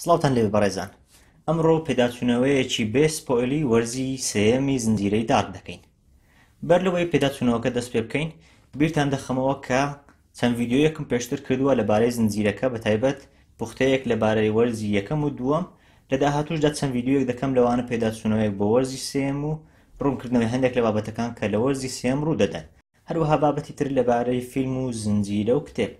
سڵاوتان لێبێ بەڕێزان ئەمڕۆ پێداچوونەوەیەکی بێ سپۆیلی وەرزی سێیەمی زنجیرەی دارک دەکەین بەر لەوەی پێداچوونەوەکە دەست پێ بکەین بیرتان دەخەمەوە کە چەند ڤیددیویەکم پێشتر کردووە لەبارەی زنجیرەکە بە تایبەت پوختەیەک لەبارەی وەرزی یەکەم و دووەم لە داهاتوشدا چەند ڤیددیویەک دەکەم لەوانە پێداچوونەوەیەک بۆ وەرزی سێم و ڕوونکردنەوەی هەندێک لە بابەتەکان کە لە وەرزی سێم ڕوو دەدەن هەروەها بابەتی تر لەبارەی فیلم و زنجیرە و کتێب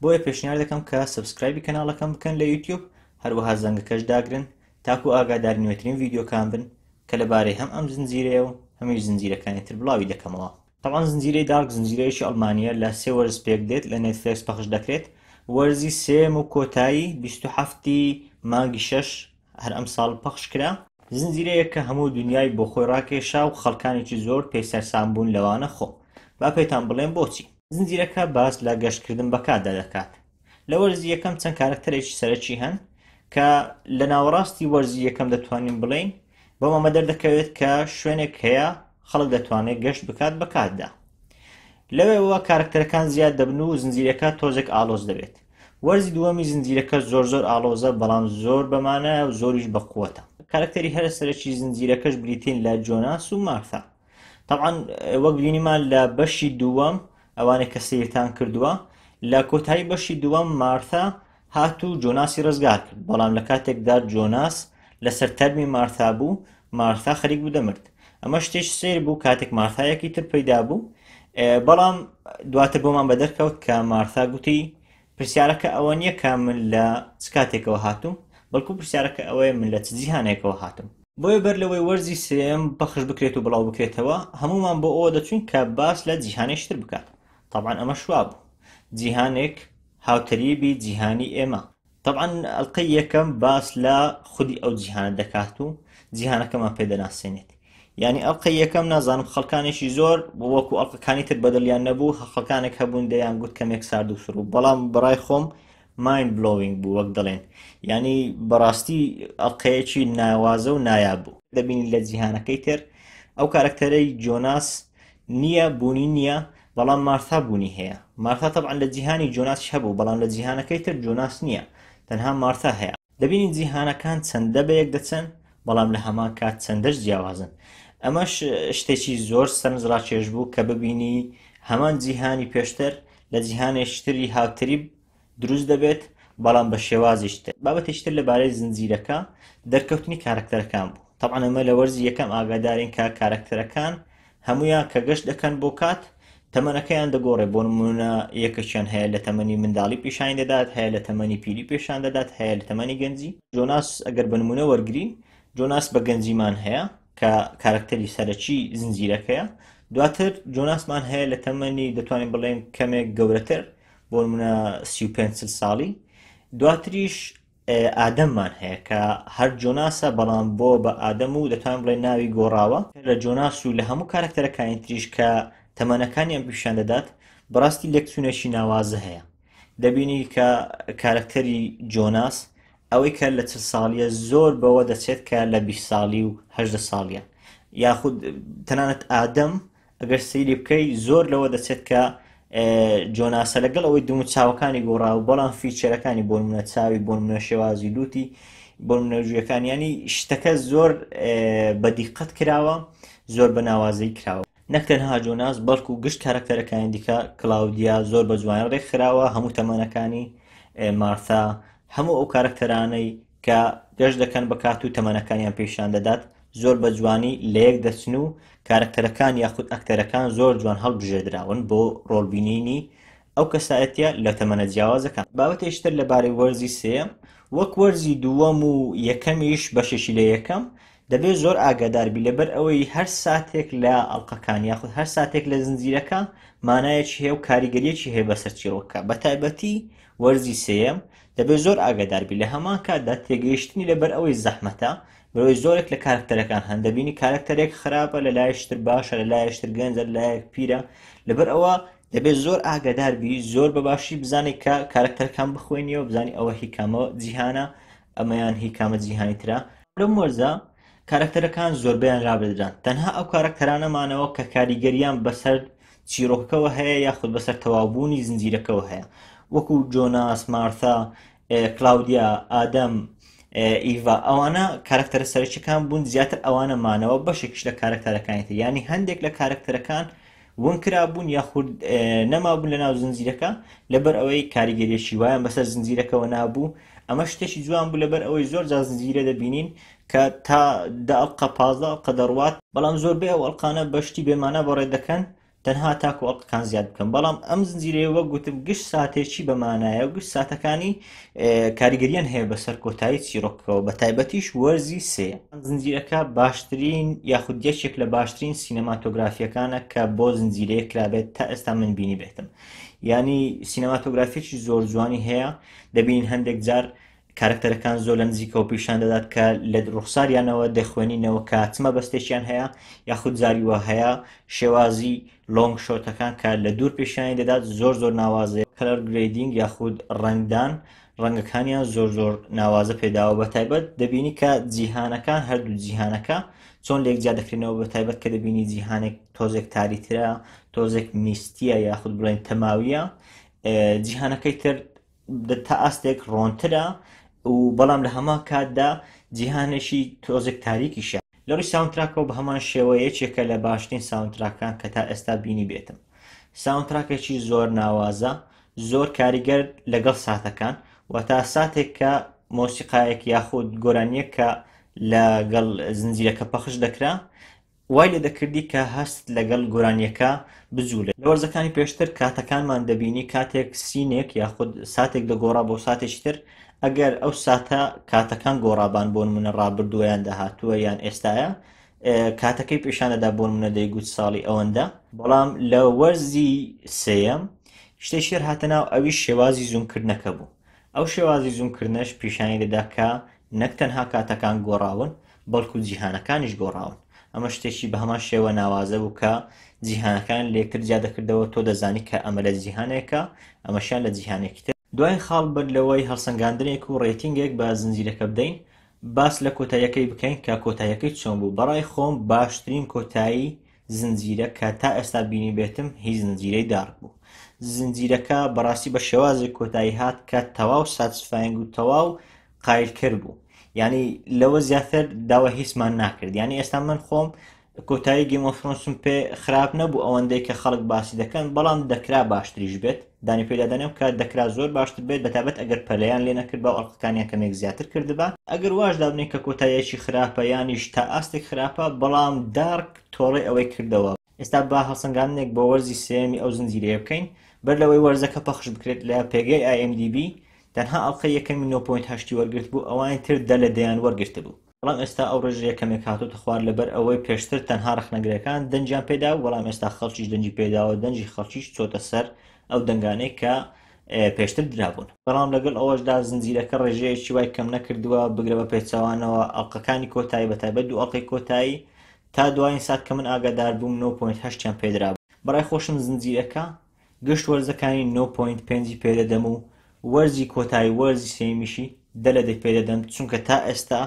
بۆیە پێشنیار دەکەم کە سەبسکرایبی کەناڵەکەم بکەن لە یوتیوب هەروەها زەنگەکەش داگرن تاکو ئاگاداری نوێترین ڤیدیۆکان بن کە لەبارەی هەم ئەم زنجیرەیە و هەمیش زنجیرەکانی تر بڵاوی دەکەمەوە تەبعەن زنجیرەی دارک زنجیرەیەکی ئەڵمانییە لە سێ وەرز پێک دێت لە نێتفلێکس پەخش دەکرێت وەرزی سێم و کۆتایی بیست و حەفتی مانگی شەش هەر ئەمساڵ پەخش کرا. زنجیرەیەک کە هەموو دونیای بۆ خۆی ڕاکێشا و خەڵکانێکی زۆر پێی سەرسام بوون لەوانە خۆم. با پێتان بڵێم بۆچی. زنجیرەکە باس لە گەشتکردن بە کاتدا دەکات. لە وەرزی یەکەم چەند کارەکتەرێکی سەرەکی هەن کە لە ناوەڕاستی وەرزی یەکەم دەتوانین بڵێین بەم ئەمە دەردەکەوێت کە شوێنێک هەیە خەڵک دەتوانێت گەشت بکات بە کاتدا. لەوێوە کارەکتەرەکان زیاد دەبن و زنجیرەکە تۆزێک ئاڵۆز دەبێت. وەرزی دووەمی زنجیرەکە زۆر زۆر ئاڵۆزە بەڵام زۆر بەمانایە و زۆریش بەقوەتە کارکتەری هەرە سەرەکی زنجیرەکەش بریتین لە جۆناس و مارثا طبعا وەک بینیمان لە بەشی دووەم ئەوانێک کە سیرتان کردووە لە کۆتایی بەشی دووەم مارثا هات و جۆناسی ڕزگار کرد بەڵام لە کاتێکدا جۆناس لەسەر تەرمی مارثا بوو مارثا خەریک بوو دەمرد ئەمە شتێش سیر بوو کاتێک مارثایەکی تر پەیدا بوو بەڵام دواتر بۆمان بە دەرکەوت کە مارثا گوتی پرسیارەکە ئەوە نییە کە من لە چ کاتێکەوە هاتووم بەڵکو پرسیارەکە ئەوەیە من لە چ جیهانێکەوە هاتم بۆیە بەر لەوەی وەرزی سێم بەخش بکرێت و بڵاو بکرێتەوە هەمومان بۆ ئەوە دەچوین کە باس لە جیهانێشتر بکات طبعا ئەمە شوابوو جیهانێک هاوتەریبی جیهانی ئێمە تەبعەن ئەڵقەی یەکەم باس لە خودی ئەو جیهانە دەکات و جیهانەکەمان پێ دەناسێنێت یعنی ئەڵلقە یەکەم نازانم خەڵکانێکی زۆر وەکو ئەڵلقەکانی تر بەدڵیان نەبوو خەڵکانێک هەبوون دەیان گوت کەمێک سارد و سڕوو بەڵام بڕای خۆم ماین بلۆینگ بوو وەک دەڵێن ینی بەڕاستی ئەڵلقەیەکی ناوازە و نایاب بوو دەبینی لە جیهانەکەی تر ئەو کارکتەرەی جۆناس نییە بوونی نییە بەڵام مارثا بوونی هەیە. مارثا تەبعەن لە جیهانی جۆناسیش هەبوو، بەڵام لە جیهانەکەی تر جۆناس نییە، تەنها مارثا هەیە. دەبینین جیهانەکان چەندە بەیەک دەچن، بەڵام لە هەمان کات چەندەش جیاوازن. ئەمەش شتێکی زۆر سەرنجڕاکێش بوو کە ببینی هەمان جیهانی پێشتر لە جیهانێکی تری هاوتەریب دروست دەبێت بەڵام بە شێوازیش تر بابەتیش تر لەبارەی زنجیرەکە دەرکەوتنی کارەکتەرەکان بوو تەبعەن ئەمە لە وەرزی یەکەم ئاگادارین کە کارەکتەرەکان هەمویان کە گەشت دەکەن بۆ کات تەمەنەکەیان دەگۆڕێ بۆ نمونە یەکەشیان هەیە لە تەمەنی منداڵی پیشانی دەدات هەیە لە تەمەنی پیری پێشان دەدات هەیە لە تەمەنی گەنجی جۆناس ئەگەر بە نمونە وەرگین جۆناس بە گەنجیمان هەیە کە کارکتەری سەرەکی زنجیرەکەیە دواتر جۆناسمان هەیە لە تەمەنی دەتوانین بڵێن کەمێک گەورەتر بۆ نمونە سی و پێنج چل ساڵی دواتریش ئادەممان هەیە کە هەر جۆناسە بەڵام بۆ بە ئادەم و دەتوان بڵێ ناوی گۆڕاوە لە جۆناس و لە هەموو کارکتەرەکانی تریش کە تەمەنەکانی ئەم پیشان دەدات بڕاستی لەکچوونێکی ناوازە هەیە دەبینی کە کارکتەری جۆناس ئەوەی کە لە چ ساڵیە زۆر بەوە دەچێت کە لە بی ساڵی و هەدە ساڵیان یاخود تەنانەت ئادەم ئەگەر سەیری بکەی زۆر لەوە دەچێت کە جۆناسە لەگەڵ ئەوەی دم و چاوەکانی گۆڕاو بەڵام فیچەرەکانی بۆ منە چاوی بۆ منە شێوازی لوتی بۆ منەژویەکان ینی شتەکە زۆر بە دیقەت کراوە زۆر بە ناوازەی کراوە نەکتەنها جۆناس بەڵکو گشت کارکتەرەکانی دیکە کلااودیا زۆر بە جوان ڕێکخراوە هەموو تەمەنەکانی مارتا هەموو ئەو کارکتەرانەی کە گەشت دەکەن بە کات و تەمەنەکانیان پیشان دەدات زۆر بە جوانی لە یەک دەچن و کارکتەرەکان یاخود ئەکتەرەکان زۆر جوان هەڵبژێدراون بۆ ڕۆڵبینینی ئەو کەسایەتە لە تەمەە جیاوازەکان بابەتێشتر لەبارەی وەرزی سێم وەک وەرزی دووەم و یەکەمیش بەشێکی لە یەکەم دەبێ زۆر ئاگاداربی لەبەر ئەوەی هەر ساتێک لە ئەڵلقەکان یاخود هەر ساتێک لە زنجیرەکە مانایەکی هەیە و کاریگەریەکی هەیە بەسەر چیرۆکە بە تایبەتی وەرزی سێم دەبێت زۆر ئاگادار بی لە هەمان کاتدا تێگەیشتنی لەبەر ئەوەی زەحمەتە برۆی زۆرێک لە کارکتەرەکان هەن دەبینی کارکتەرێک خراپە لە لایشتر باشە لە لایشتر گەنجە لە لایەک پیرە لەبەر ئەوە دەبێت زۆر ئاگادار بی زۆر بە باشی بزانێت کە کارکتەرەکان بخوێنیەوە بزانانی ئەوە هیکامە جیهانە ئەمەیان هیکامە جیهانی تررا لەم وەرزە کارەکتەرەکان زۆربەیان لابردران، تەنها ئەو کارەکتەرانە مانەوە کە کاریگەرییان بەسەر چیرۆکەکەوە هەیە یاخود بەسەر تەواوبوونی زنجیرەکەوە هەیە، وەکو جۆناس، مارثا، کلاودیا، ئادەم، ئیڤا، ئەوانە کارەکتەرە سەرەکییەکان بوون، زیاتر ئەوانە مانەوە، بەشێکیش لە کارەکتەرەکانی تر، یانی هەندێک لە کارەکتەرەکان ونکرابوون یاخود نەمابوون لە ناو زنجیرەکە لەبەر ئەوەی کاریگەریەکی وایان بەسەر زنجیرەکەەوە نابوو ئەمە شتێکی جوان بوو لەبەر ئەوەی زۆر جا زنجیرە دەبینین کە تا داڵقە پازە ئەڵقە دەڕوات بەڵام زۆربەی ئەو ئەڵقانە بەشتی بێمانە بەڕێ دەکەن تەنها تاکو ئەڵقەکان زیاد بکەن بەڵام ئەم زنجیرەیە وەک گوتم گشت ساتێکی بەمانایە و گشت ساتەکانی کاریگەریان هەیە بەسەر کۆتایی چیرۆکەوە بە تایبەتیش وەرزی سێ زنجیرەکە باشترین یاخود یەکێک لە باشترین سینەماتۆگرافیەکانە کە بۆ زنجیرەیە کرابێت تا ئێستا من بینی بێتم ینی سینەماتۆگرافیی زۆر جوانی هەیە دەبین هەندێک جار کارکتەرەکان زۆر لە نزیکەوە پیشان دەدات کە لە ڕوخساریانەوە دەخوێنینەوە کاتمە بەستێکیان هەیە یاخود زاری وە هەیە شێوازی لۆنگ شۆتەکان کە لە دوور پیشانی دەدات زۆر زۆر ناوازەیە کەلەر گرەیدینگ یاخود ڕەنگدان ڕەنگەکانیان زۆر زۆر ناوازە پێداوە بە تایبەت دەبینی کە جیهانەکان هەردوو جیهانەکە چۆن لێک جیا دەکرێنەوە بە تایبەت کە دەبینی جیهانێک تۆزێک تاریترە تۆزێک میستیە یاخود بڵێن تەماویە جیهانەکەی تر تا ئاستێک ڕۆنترە و بەڵام لە هەمان کاتدا جیهانێکی تۆزێک تاریکیشە لەڕووی ساونتراکەوە بە هەمان شێوە یەکێکە لە باشترین ساونتراکان کە تا ئێستا بینی بێتم ساونتراکێکی زۆر ناوازە زۆر کاریگەر لەگەڵ ساتەکان و تا ساتێک کە مۆسیقایەک یاخود گۆرانیەک کە لەگەڵ زنجیرەکە پەخش دەکرا وای لێ دەکردی کە هەست لەگەڵ گۆرانییەکە بجووڵێت. لە وەرزەکانی پێشتر کاتەکانمان دەبینی کاتێک سینێک یاخود ساتێک دەگۆڕا بۆ ساتێکی تر، ئەگەر ئەو ساتە کاتەکان گۆڕابان بۆ نموونە ڕابردووە یان داهاتووە یان ئێستایە کاتەکەی پیشان دەدا بۆ نموونە دەیگوت ساڵی ئەوەندە، بەڵام لە وەرزی سێیەم شتێکی تر هاتە ناو ئەویش شێوازی زوومکردنەکە بوو. ئەو شێوازی زوومکردنەش پیشانی دەدا کە نەک تەنها کاتەکان گۆڕاون، بەڵکو جیهانەکانیش گۆڕاون. ئەمە شتێکی بەهەمان شێوە ناوازە بوو کە جیهانەکان لەیەکتر جیا دەکردەوە، تۆ دەزانی کە ئەمە لە جیهانێکە، ئەمەشیان لە جیهانێکی تر. دوایین خاڵ، بەر لەوەی هەڵسەنگاندنێک و ڕێتینگێک بە زنجیرەکە بدەین، باس لە کۆتاییەکەی بکەین کە کۆتاییەکەی چۆن بوو. بەڕای خۆم باشترین کۆتایی زنجیرە کە تا ئێستا بینی بێتم هی زنجیرەی دارک بوو زنجیرەکە بەڕاستی بە شێوازی کۆتایی هات کە تەواو ساتسفاینگ و تەواو قایلکرد بوو ینی لەوە زیاتر داوە هیچمان ناکرد ینی ئێستا من خۆم کۆتایی گەمۆفرۆنسم پێ خراپ نەبوو ئەوەندەی کە خەڵک باسی دەکەن بەڵام دەکرا باشتریش بێت دانی پێدا دەنێم کە دەکرا زۆر باشتر بێت بەتابەت ئەگەر پەلەیان لێ نەکردبا و ئەڵقەکانیان کەمێک زیاتر کردبا ئەگەر واش دابنێین کە کۆتاییەکی خراپە یانیش تا ئاستێک خراپە بەڵام دارک تۆڵەی ئەوەی کردەوە. ئێستا با هەڵسەنگاندنێک بۆ وەرزی سێیەمی ئەو زنجیرەیە بکەین بەر لەوەی وەرزەکە پەخش بکرێت لە پێگەی IMDB تەنها ئەڵقەی یەکەمی نۆ پۆینت هەشتی وەرگرتبوو ئەوانی تر دە لە دەیان وەرگرتبوو بەڵام ئێستا ئەو ڕێژە یەکەمێک هاتۆتە خوار لەبەر ئەوەی پێشتر تەنها ڕخنەگرەکان دەنجیان پێدا و بەڵام ئێستا خەڵکیش دەنجی پێداوە دەنجی خەڵکیش چۆتە سەر ئەو دەنگانەی کە پێشتر درابوون بەڵام لەگەڵ ئەوەشدا زنجیرەکە ڕێژەیەکی وای کەم نەکردووە بگرە بە پێچوانەوە ئەڵلقەکانی کۆتایی بە تایبەت دوو ئەڵلقەی کۆتایی تا دوایین سات کە من ئاگادار بووم 9.8یان پێدرا بەڕای خۆشم زنجیرەکە گشت وەرزەکانی نۆ پۆینت پێنجی پێدەدەم و وەرزی کۆتایی وەرزی سێیەمیشی دە لە دە پێدەدەم چونکە تا ئێستا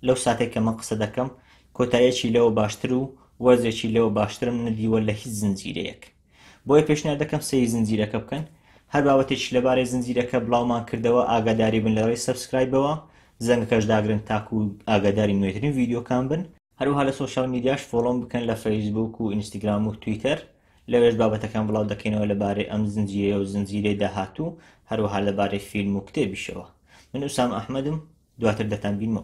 لەو ساتەی کە من قسە دەکەم کۆتاییەکی لەوە باشتر و وەرزێکی لەوە باشترم نەدیوە لە هیچ زنجیرەیەک بۆیە پێشنیار دەکەم سەیری زنجیرەکە بکەن هەر بابەتێکی لەبارەی زنجیرەکە بڵاومان کردەوە ئاگاداری بن لەڕێی سەبسکرایبەوە زەنگەکەش داگرن تاکو ئاگاداری نوێترین ڤیدیۆکان بن هەروەها لە سۆشیال میدیاش فۆڵۆم بکەن لە فەیسبووک و ئینستگرام و تویتەر لەوێش بابەتەکان بڵاو دەکەینەوە لەبارەی ئەم زنجیرەیە و زنجیرەی داهاتوو هەروەها لەبارەی فیلم و کتێبیشەوە من ئوسام ئەحمەدم دواتر دەتان بینمەوە